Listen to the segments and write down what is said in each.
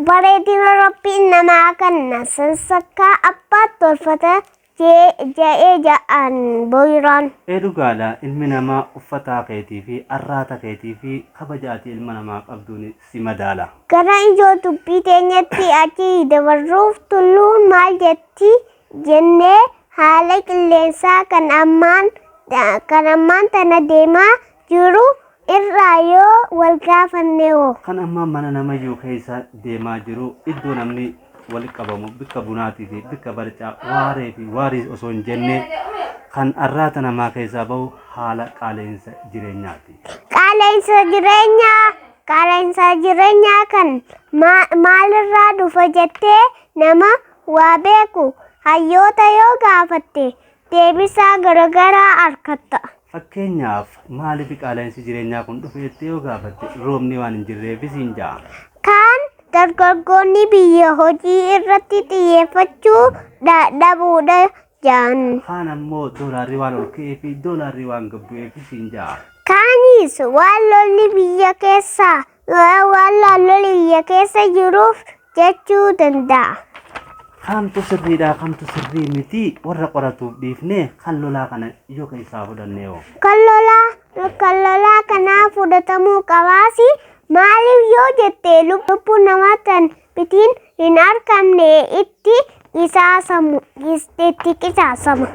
Bareedina Rabbiin namaa kan nasan sakkaa abbaa tolfata Jee ja'ee ja'aan boyraan. Ee dhugaadha ilmi namaa uffataa keetii fi arraata keetii fi kabaja ati ilma namaa qabduun si madaala. Gara ijoo dubbii teenyatti achi dabarruuf tulluun maal jetti jennee haala qilleensaa kan ammaan kan ammaan tana deemaa jiru irraa yoo wal gaafanne hoo? Kan amma mana namayyuu keessa deemaa jiru iddoo namni walitti qabamu bikka bunaatii fi bikka barcaa waaree fi waarii osoo hin jenne kan arraata namaa keessaa bahu haala qaala'insa jireenyaati. Qaala'insa jireenyaa qaala'insa jireenyaa kan maalirraa dhufa jettee nama waa beeku hayyoota yoo gaafatte deebisaa garagaraa arkatta. Fakkeenyaaf, maaliif qaala'insi jireenyaa kun dhufe jettee yoo gaafatte, roobni waan hin jirreefi siin ja'a. Kaan dargaggoonni biyya hojii irratti xiyyeeffachuu dha- dhabuudha ja'an. Kaan ammoo doolaarri waan ol ka'eefi doolaarri waan gad bu'eefi siin ja'a. Kaanis waan lolli biyya keessaa Yoo'ee waan naannoo liyya keessa jiruuf jechuu danda'a. Kamtu sirriidhaa kamtu sirrii miti warra qoratuuf dhiifnee kan lolaa kana yoo keessaa fudhannee hoo. Kan lolaa kan lolaa kanaa fudhatamuu qabaasi maaliif yoo jette lubbuu namaa tan bitiin hin argamne itti qisaasamu itti qisaasama.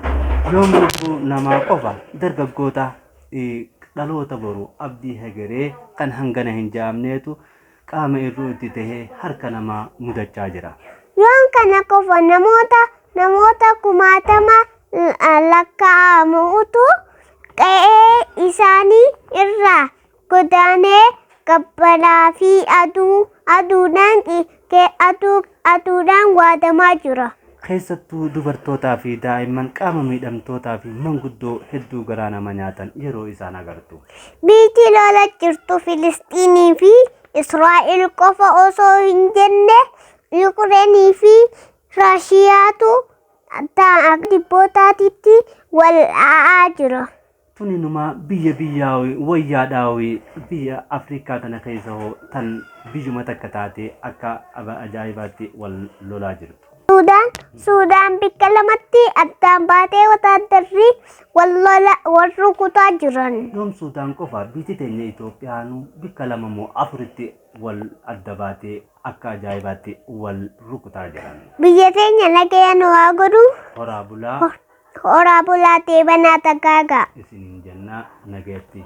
Yoom lubbuu namaa qofa dargaggoota dhaloota boru abdii hegeree kan hangana hin jaamneetu qaama irruu itti tahee harka namaa mudachaa jira. Yoon kana qofa namoota namoota kumaatama lakkaa'amu utuu qe'ee isaanii irraa godaanee gabbaraa fi aduu aduudhaan Kee aduu aduudhaan waadamaa jira. Keessattuu dubartootaa fi daa'imman qaama miidhamtootaa fi manguddoo hedduu garaa nama nyaatan yeroo isaan agartu. Biitii lola jirtu Filisxiinii fi Israa'el qofa osoo hin jenne Yuukireenii fi Raashiyaatu dhibbootaatiin wal dha'aa jira. Tun inumaa biyya biyyaawi wayyaa dhaawi biyya Afrikaa tana keessa hoo tan biyyuma takka taate akka ajaa'ibaatti wal lolaa jirtu. Suudaan Suudaan bikka lamatti addaan baatee wataaddarri wal lola wal rukutaa jiran. Yoom Suudaan qofa biiti teenya Itoophiyaanu bikka lama moo afuritti wal adda baatee akka ajaa'ibaatti wal rukutaa jiran. Biyya teenya nagaya nu haa godhu. Horaa bulaa. Horaa bulaa deebanaa dagaagaa. isinin jannaa nagayatti.